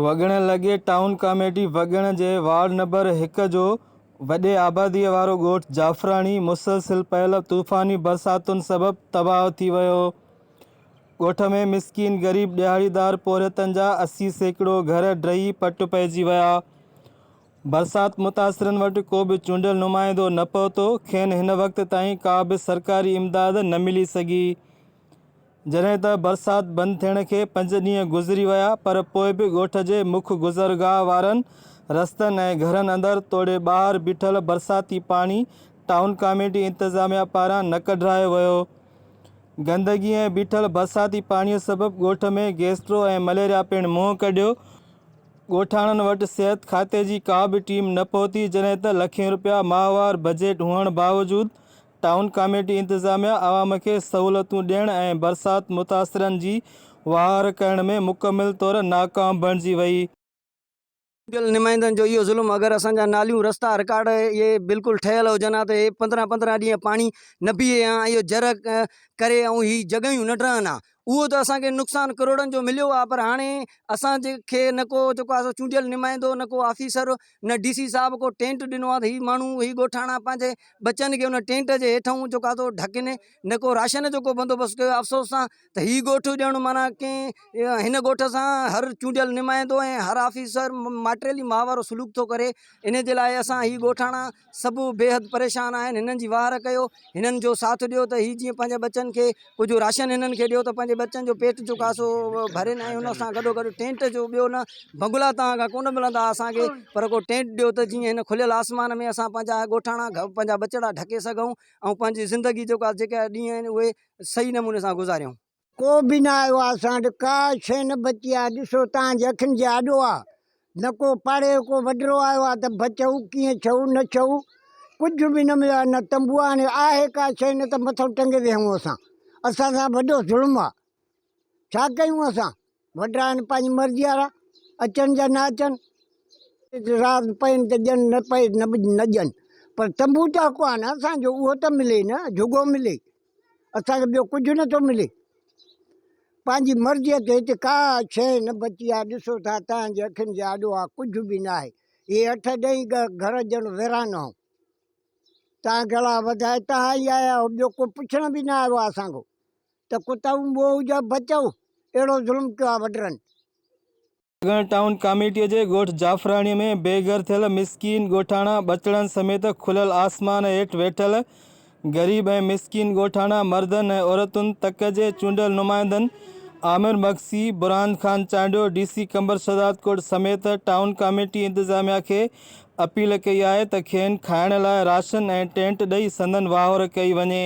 وڳڻ لڳي town committee Wagan جي ward number هڪ جو وڏي آباديء وارو ڳوٺ جعفراڻي مسلسل پيل طوفاني برساتن سبب تباهه ٿي ويو. ڳوٺ ۾ مسڪين غريب ڏهاڙيدار پورهيتن جا اسي سيڪڙو گهر ڊهي پٽ پئجي ويا. برسات متاثرن وٽ ڪو به چونڊيل نمائندو نه پهتو، کين هن وقت تائين ڪا به سرڪاري امداد نه ملي سگهي. جڏهن ته برسات بند ٿيڻ کي پنج ڏينهن گذري ويا پر پوء به ڳوٺ جي مک گذرگاهه وارن رستن ۽ گهرن اندر توڙي ٻاهر بيٺل برساتي پاڻي ٽائون ڪاميٽي انتظاميا پاران نه ڪڍرايو ويو. گندگي ۽ بيٺل برساتي پاڻي سبب ڳوٺ ۾ گيسٽرو ۽ مليريا پڻ منهن ڪڍيو. ڳوٺاڻن وٽ صحت کاتي جي ڪا به ٽيم نه پهتي جڏهن ته لکين روپيا ماهوار بجيٽ هئڻ باوجود ٽائون ڪاميٽي انتظاميا عوام کي سهولتون ڏيڻ ۽ برسات متاثرن جي وهنوار ڪرڻ ۾ مڪمل طور ناڪام بڻجي وئي. چونڊيل نمائندن جو اهو ظلم اگر اسان جا ناليون رستا رڪارڊ اهي بلڪل ٺهيل هجن ها ته اهي پندرهن پندرهن ڏينهن پاڻي نه پيئي ها ۽ اهو جر ڪري ۽ هي جڳهيون نه ڊهن ها اهو ته اسان کي نقصان ڪروڙن جو مليو آهي پر هاڻي اسان جي کي نه ڪو جيڪو آهي سو چونڊيل نمائندو نه ڪو آفيسر نه ڊي سي صاحب ڪو ٽينٽ ڏنو آهي ته هي ماڻهو هي ڳوٺاڻا پنهنجي ٻچن کي ان ٽينٽ جي هيٺئون جيڪو آهي سو ڍڪين نه ڪو راشن جو ڪو بندوبست ڪيو افسوس سان ته هي ڳوٺ ڄڻ معنيٰ ڪنهن هن ڳوٺ سان هر چونڊيل نمائندو ۽ هر آفيسر ماٽيلي ماء وارو سلوڪ ٿو ڪري ان جي لاء اسان هي ڳوٺاڻا سڀ بيحد پريشان آهن هنن جي واهر ڪيو هنن جو ساٿ ڏيو ته هي جيئن پنهنجي ٻچن کي ڪجهه راشن هنن کي ڏيو ته پنهنجي ٻچن جو پيٽ جو ڪاسو ڀرين ۽ ان سان گڏو گڏ ٽينٽ جو ٻيو نه بنگلا تان کان ڪونه ملندا اسان کي پر ڪو ٽينٽ ڏيو ته جيئن هن کليل آسمان ۾ اسان پنهنجا ڳوٺاڻا پنهنجا ٻچڙا ڍڪي سگهون ۽ پنهنجي زندگي جيڪا جيڪا ڏينهن آهن اهي صحيح نموني سان گذاريون ڪو به نه آيو آ اسان وٽ ڪا شي نه بچي آ ڏسو تان جي اکين جي آڏو آ نه ڪو پاڙي جو ڪو وڏرو آيو آ ته بچئو ڪيئن ڇئو نه ڇئو ڪجھ به نه مليو آ نه تنبو آ ھاڻي آھي ڪا شي نه ته مٿو ٽنگي ويھون اسان اسان سان وڏو ظلم آ ڇا ڪيون اسان. وڏرا آهن پنهنجي مرضي وارا اچن يا نه اچن رات پين ته ڄن نه پئي نه ڄن پر تنبو ته حق آهي نه اسانجو اهو ته ملي نه جهڳو ملي اسانکي ٻيو ڪجهه نٿو ملي پنهنجي مرضي تي هتي ڪا شي نه بچي آهي ڏسو ٿا تنهن جي اکين جي آڏو آ ڪجهه به نه آهي هي اٺ ڏهي گهر ڄڻ ويران آهو تان گلا وڌائي تان آئي آيا ٻيو ڪو پڇڻ به نه آيو آ اسانکو ته ڪتائون موهه جا بچئو اهڙو ظلم ڪيو آ وڊرن. سگڻ ٽائون ڪاميٽي جي ڳوٺ جعفراڻي ۾ بي گهر ٿيل مسڪين ڳوٺاڻا ٻچڙن سميت کليل آسمان هيٺ ويٺل غريب ۽ مسڪين ڳوٺاڻا مردن ۽ عورتن تڪ جي چونڊيل نمائندن عامر مگسي، برهان خان چانڊيو، ڊي سي قمبر شهدادڪوٽ سميت ٽائون ڪاميٽي انتظاميا کي اپيل ڪئي آهي ته کين کائڻ لاء راشن ۽ ٽينٽ ڏئي سندن واهور ڪئي وڃي.